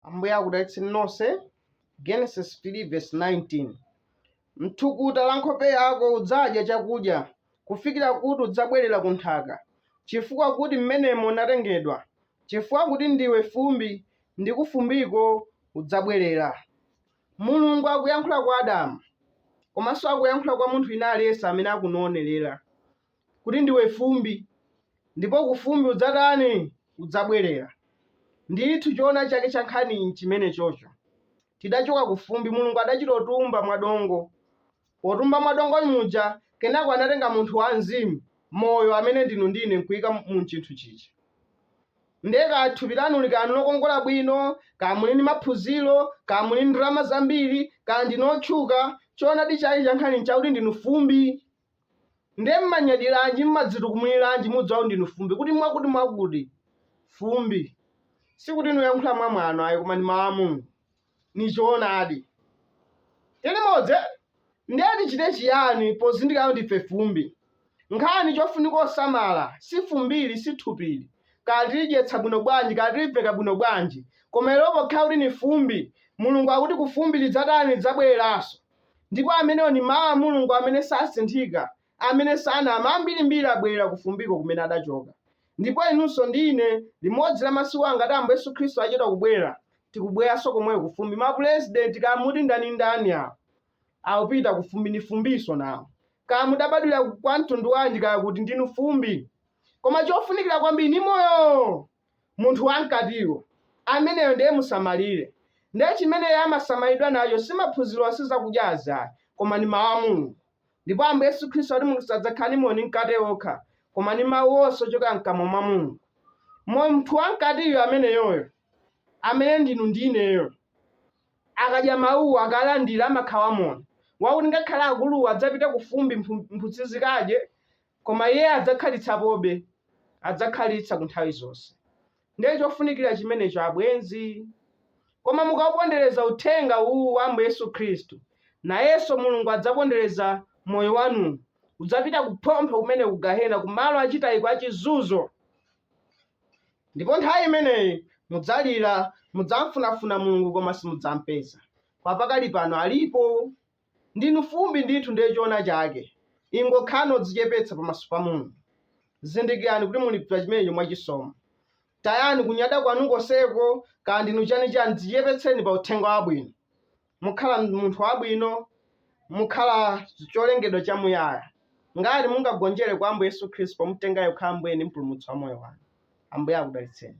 ambuye akudalitseni nonse genesis 3 verse 19 mthukuta la nkhope yako udzadya chakudya kufikira kuti udzabwerera ku nthaka chifukwa kuti mmenemo unatengedwa chifukwa kuti ndiwe fumbi ndi kufumbiko udzabwerera mulungu akuyankhula kwa adamu komanso akuyankhula kwa munthu wina aliyense amene akunowonerera kuti ndiwe fumbi, ndipo ku fumbi udzatani? udzabwerera. Ndithu choona chake cha nkhaniyi nchimenechocho. Tidachoka ku fumbi, Mulungu adachitotumba mwa dongo. Potumba mwa dongo muja, kenako anatenga munthu wa mzimu, moyo, amene ndinu ndi ine nkuika mu chinthu chichi. Ndiye kaya thupi lanuli kaya nlokongola bwino, kaya muli ndi maphunziro, kaya muli ndi ndalama zambiri, kaya ndinu otchuka, choonadi chake cha nkhani nchakuti ndinu fumbi. Ndiye mmanyadiranji, mmadzitukumliranji, mudziwau ndinu fumbi, kuti mwakuti mwakuti. Fumbi. Sikuti nuyankhula mwa mwano ayi koma ndi mawu a Mulungu. Ni choonadi. Tili modzi eh? Ndiye tichite chiyani pozindikira kuti ndife fumbi? Nkhani chofunika osamala si fumbili si thupili, kaya tilidyetsa bwino bwanji kaya tiliveka bwino bwanji koma ilo pokhala kuti ni fumbi, Mulungu akuti kufumbi lidzatani lidzabweleranso. Ndipo amenewo ndi Mawu a Mulungu amene sasinthika, amene sanama, ambirimbiri abwerera ku fumbiko kumene adachoka. Ndipo inunso ndi ine, limodzi la masiku awa ngati Ambuye Yesu Khristu achedwa kubwera, tikubweranso komweyo ku fumbi. Mapurezidenti, kaya muti ndanindani, awo, akupita ku fumbi. Ndi fumbinso, nawo. Kaya mudabadwira kwa mtundu wanji, kaya kuti, ndinu fumbi. Koma chofunikira kwambiri ndi moyo! Munthu wa mkatiyo, ameneyo ndiye musamalire. Ndiye chimene iye amasamalidwa nacho si maphunziro onse zakudyazi ayi, koma ndi Mawu a Mulungu. Ndipo Ambuye Yesu Khristu anati munthu sadzakhala ndi moyo ndi mkate wokha, koma ndi Mawu onse ochokera mkamwa mwa Mulungu. Munthu wa mkatiyo ameneyoyo, amene ndinu ndi ineyo, akadya Mawuwo, akalandira, amakhala wamoyo, wakuti ngakhale akuluwa adzapita kufumbi, mphutsi zikadye, Koma Iye adzakhalitsapobe, adzakhalitsa ku nthawi zonse. Ndiye chofunikira chimenecho, abwenzi. Koma mukaupondereza Uthenga uwu wa Ambuye Yesu Khristu, nayenso Mulungu adzapondereza moyo wanu, udzapita kuphompho kumene ku gahena, ku malo achitayiko a chizunzo. Ndipo nthawi imeneyi mudzalira, mudzamfunafuna Mulungu koma simudzampeza. Kwa pakali pano alipo. Ndinu fumbi ndithu ndiye choona chake ingokhalani odzichepetsa pamaso pa Mulungu zindikirani kuti muli pa chimenecho mwa chisomo tayani kunyada kwanu konseko kaya ndinu chani chani dzichepetseni pa uthenga wabwino mukhala munthu wabwino mukhala cholengedwa cha muyaya ngati mungagonjere kwa Ambuye Yesu Khristu pomutenga iye kukhala Ambuye ndi mpulumutsi wa moyo wanu Ambuye akudalitseni.